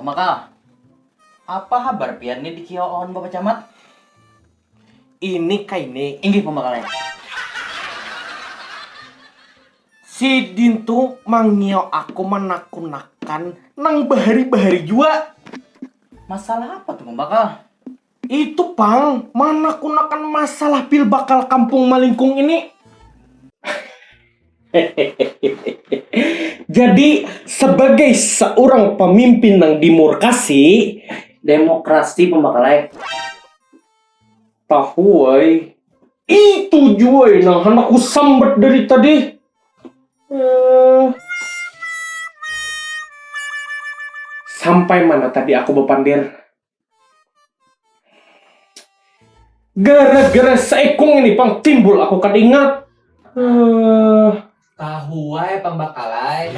Pamakah, apa habar pian ni dikiau awan Bapak Camat? Ini kaini, inggih pamakalnya. Sidin tu mangiau aku manakunakan nang bahari-bahari jua. Masalah apa tu Pamakah? Itu pang, manakunakan masalah pil bakal kampung malingkung ini. Jadi sebagai seorang pemimpin nang dimurkasi, demokrasi pambakal ai tahu ai. Itu jua ai nang handak ku sambat dari tadi. Sampai mana tadi aku bapander? Gara-gara saikung ini pang timbul aku kada ingat. Uh... Tahu wae pambakalai.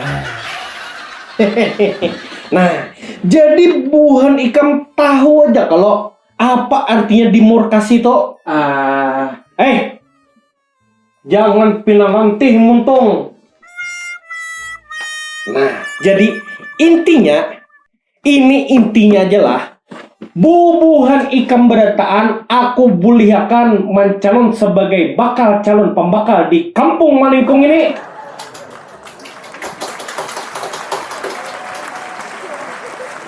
nah, jadi buhan ikam tahu aja kalau apa artinya dimurkasi to? Ah, uh... eh, Jangan pina rantih muntung. Nah, jadi intinya ini intinya aja lah. Bubuhan ikam berataan, aku bulihakan mancalon sebagai bakal calon pembakal di kampung malingkung ini.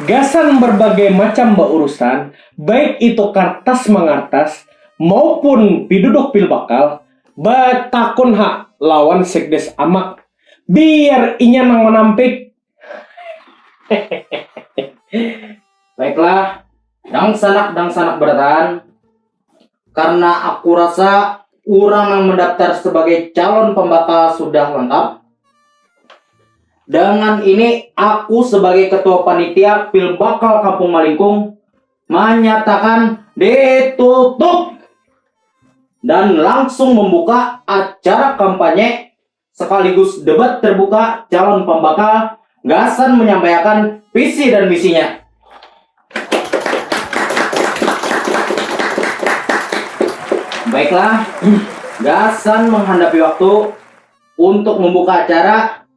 Gasan berbagai macam baurusan, baik itu kartas mengartas, maupun piduduk pil bakal batakun ha lawan sekdes amak biar inya nang manampik. Baiklah, dangsanak-dangsanak barataan, karna aku rasa urang nang mendaftar sebagai calon pembakal sudah lengkap, dengan ini aku sebagai ketua panitia pil bakal Kampung Malingkung, Manyatakan ditutup dan langsung membuka acara kampanye sekaligus debat terbuka calon pambakal gasan menyampaiakan visi dan misinya. Baiklah, gasan menghadapi waktu untuk membuka acara,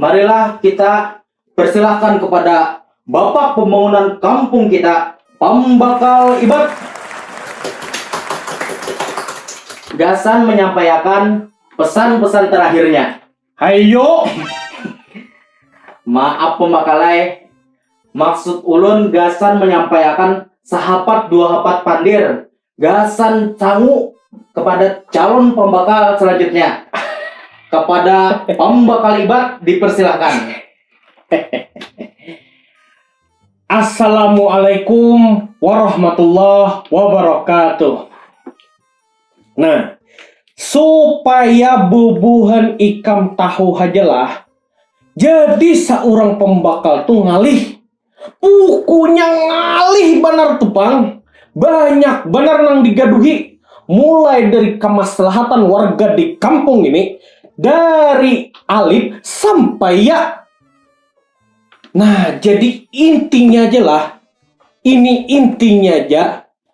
Marilah kita persilahkan kepada Bapak Pembangunan Kampung kita, Pambakal Ibat. Gasan menyampaiakan pesan-pesan terakhirnya. Hayo. Maaf Pambakal ai, maksud ulun gasan menyampaiakan sahapat dua hapat pandir gasan sangu kepada calon pembakal selanjutnya. Kepada pembakal ibat dipersilahkan. Assalamualaikum warahmatullahi wabarakatuh. Nah, supaya bubuhan ikam tahu hajalah, jadi seorang pembakal tuh ngalih Bukunya ngalih banar tu pang, banyak banar nang digaduhi, mulai dari kamaslahatan warga di kampung ini, dari alif sampai ya. Nah jadi intinya ja lah, ini intinya ja.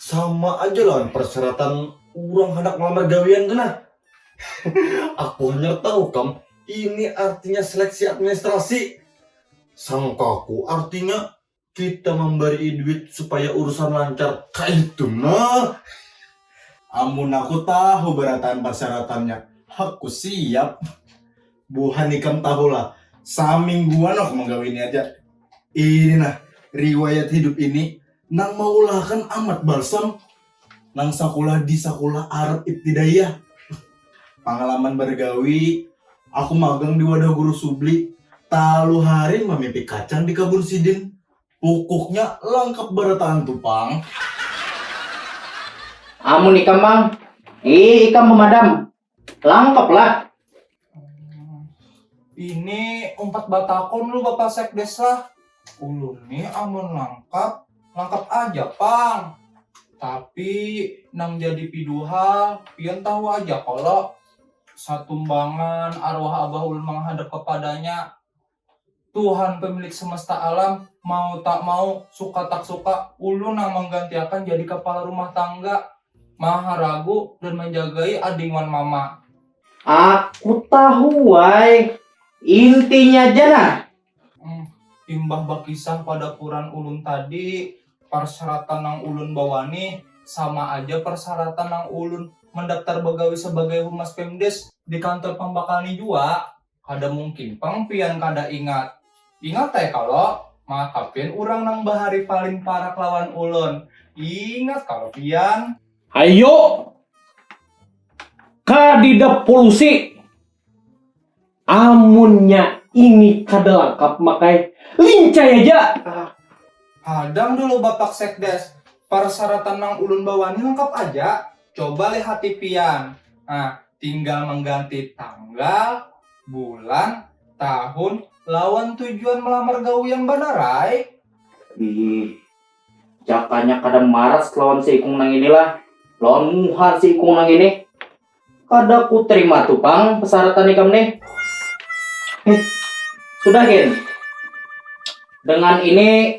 Sama aja lawan persyaratan urang handak malamar gawian tu nah. Aku hanyar tahu kam, ini artinya seleksi administrasi. Sangkaku artinya kita mambarii duit supaya urusan lancar, kaitu nah. Amun aku tahu barataan parsyaratannya, aku siap. Buhan ikam tahulah, samingguan aku manggawi ini aja. Ini nah, riwayat hidup ini nang maulahakan Amat Balsam nang sakulah di Sakulah Arab Ibtidaiyah. Pangalaman bargawi, aku magang di wadah Guru Subli, talu hari mamipik kacang di kabun sidin. Pukuknya langkap barataan tu pang. Amun ikam mang, ih ikam pemadam, Langkap lah. Ini umpat batakon lu Bapak Sekdes lah. Ulun nih amun langkap, langkap aja pang. Tapi nang jadi piduhal, pian tahu aja kalau satumbangan arwah abah ulun menghadap kepadanya. Tuhan pemilik semesta alam, mau tak mau, suka tak suka, ulun nang menggantiakan jadi kepala rumah tangga, maharagu dan menjagai ading wan mama. Aku tahu wai, intinya ja nah. Hmm, imbah bakisah pada kuran ulun tadi, persyaratan nang ulun bawani sama aja persyaratan nang ulun mendaftar begawi sebagai humas pemdes di kantor pambakal ni jua. Kada mungkin pang pian kada ingat. Ingat ai kalo, maka pian urang nang bahari paling parak lawan ulun. Ingat kalo pian. Hayu kadida pulusi. Amunnya ini kada langkap makai lincai aja. Hadang dulu Bapak Sekdes, parsyaratan nang ulun bawa ni langkap aja. Coba lihati pian. Nah, tinggal mengganti tanggal, bulan, tahun, lawan tujuan melamar gawi yang banar ai. Ih, jakanya kada maras lawan si ikung nang ini lah. Lawan muha si ikung nang ini. Kada ku terima tu pang pesaratan ikam nih. Eh, sudah Gen. Dengan ini